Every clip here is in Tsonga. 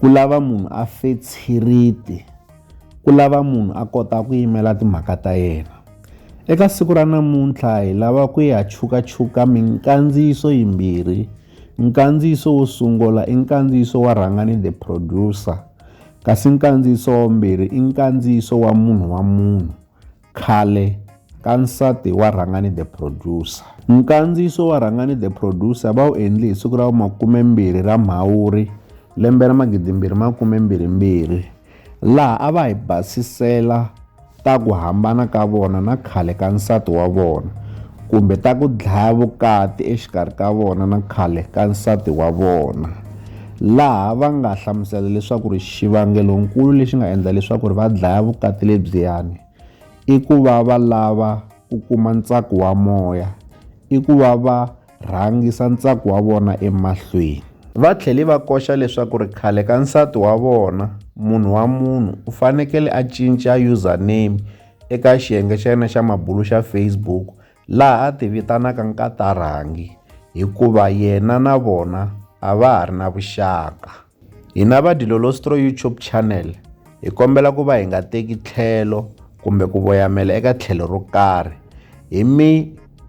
Ku lava munhu a fe tshiriti ku lava munhu a kota ku yimela timhaka ta yena. Eka siku ra namuntlha hi lava ku ya chukachuka minkandziyiso yimbirhi. Nkandziyiso wo sungula i nkandziyiso wa Rhangani the Producer, kasi nkandziyiso wa vumbirhi i nkandziyiso wa Munhu wa Munhu, Khale ka nsati wa Rhangani the Producer. Nkandziyiso wa Rhangani the Producer va wu endli hi siku ra makumembirhi ra Mhawuri lembe ra magidimbirhi makumembirhimbirhi laha a va hi basisela ta ku hambana ka vona na khale ka nsati wa vona kumbe ta ku dlaya vukati exikarhi ka vona na khale ka nsati wa vona. laha va nga hlamusela leswaku ri xivangelonkulu lexi nga endla leswaku ri va dlaya vukati lebyiyani i ku va va lava ku kuma ntsako wa moya i ku va va rhangisa ntsako wa vona emahlweni va tlhele va koxa leswaku ri khale ka nsati wa vona munhu wa munhu u fanekele a cinca username eka xiyenge xa yena xa mabulu xa Facebook laha a tivitanaka nkatarangi hikuva yena na vona a va ha ri na vuxaka. Hina va Dilolostro YouTube channel hi kombela ku va hi nga teki tlhelo kumbe ku voyamela eka tlhelo ro karhi hi mi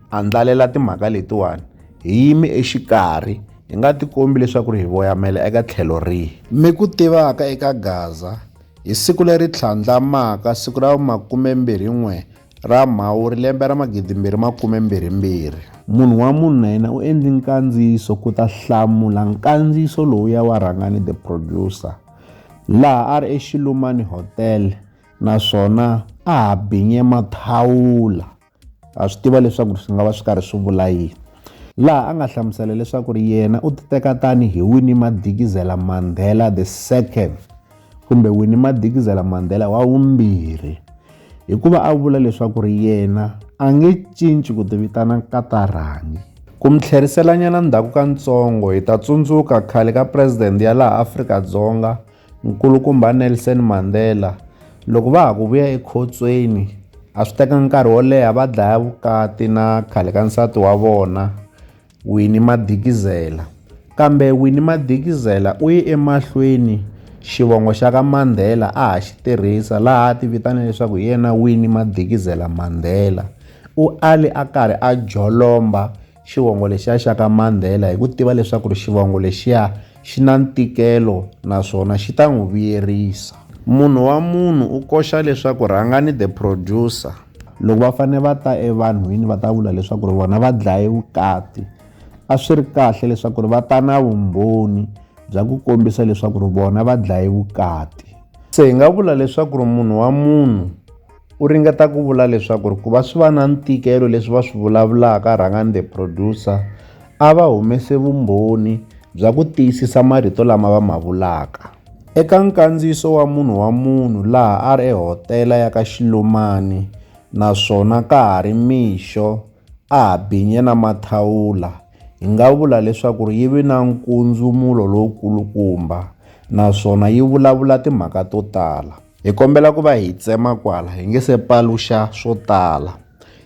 andlalela timhaka letiwani hi yimi exikarhi hi nga tikombi leswaku ri hi voyamela eka tlhelo rihi mi ku tivaka eka gaza hi siku leri tlhandlamaka siku ra vumakumembirhi-n'we Ra Mhawuri lembe ra 2022. Munhu wa munhu na yena u endli nkandziyiso ku ta hlamula nkandziyiso lowuya wa Rhangani the Producer laha a ri eXilumani Hotel naswona a ha binye mathawula. Ha swi tiva leswaku swi nga va swi karhi swi vula yini. Laha a nga hlamusela leswaku yena u titeka tani hi Winnie Madikizela Mandela the Second. kumbe Winnie Madikizela-Mandela wa vumbirhi, hikuva a vula leswaku ri yena a nge cinci ku tivitana Nkatarangi. Ku mi tlheriselanyana ndzhaku ka ntsongo, hi ta tsundzuka khale ka President ya laha Afrika-Dzonga Nkulukumba Nelson Mandela, loko va ha ku vuya ekhotsweni a swi tekanga nkarhi wo leha va dlaya vukati na khale ka nsati wa vona Winnie Madikizela. Kambe Winnie Madikizela u ye emahlweni xivongo xa ka Mandela a ha xi tirhisa laha a tivitana leswaku hi yena Winnie Madikizela Mandela. U ale a karhi a jolomba xivongo lexiya xa ka Mandela hi ku tiva leswaku ri xivongo lexiya xi na ntikelo naswona xi ta n'wi vuyerisa. Munhu wa munhu u koxa leswaku rhangani the producer. Loko va fanele va ta evanhwini va ta vula leswaku ri vona va dlaye vukati a swi ri kahle leswaku ri va ta na vumbhoni bya ku kombisa leswaku ri vona va dlaye vukati se hi nga vula leswaku ri munhu wa munhu u ringeta ku vula leswaku ri ku va swi va na ntikelo leswi va swi vulavulaka rhangani the producer a va humese vumbhoni bya ku tiyisisa marito lama va ma vulaka Eka nkandziyiso wa munhu wa munhu laha a ri ehotela ya ka Xilumani naswona ka ha ri mixo a ha binye na mathawula, hi nga vula leswaku yi ve na nkundzumulo lowukulukumba naswona yi vulavula timhaka to tala. Hi kombela ku va hi tsema kwala hi nge se paluxa swo tala.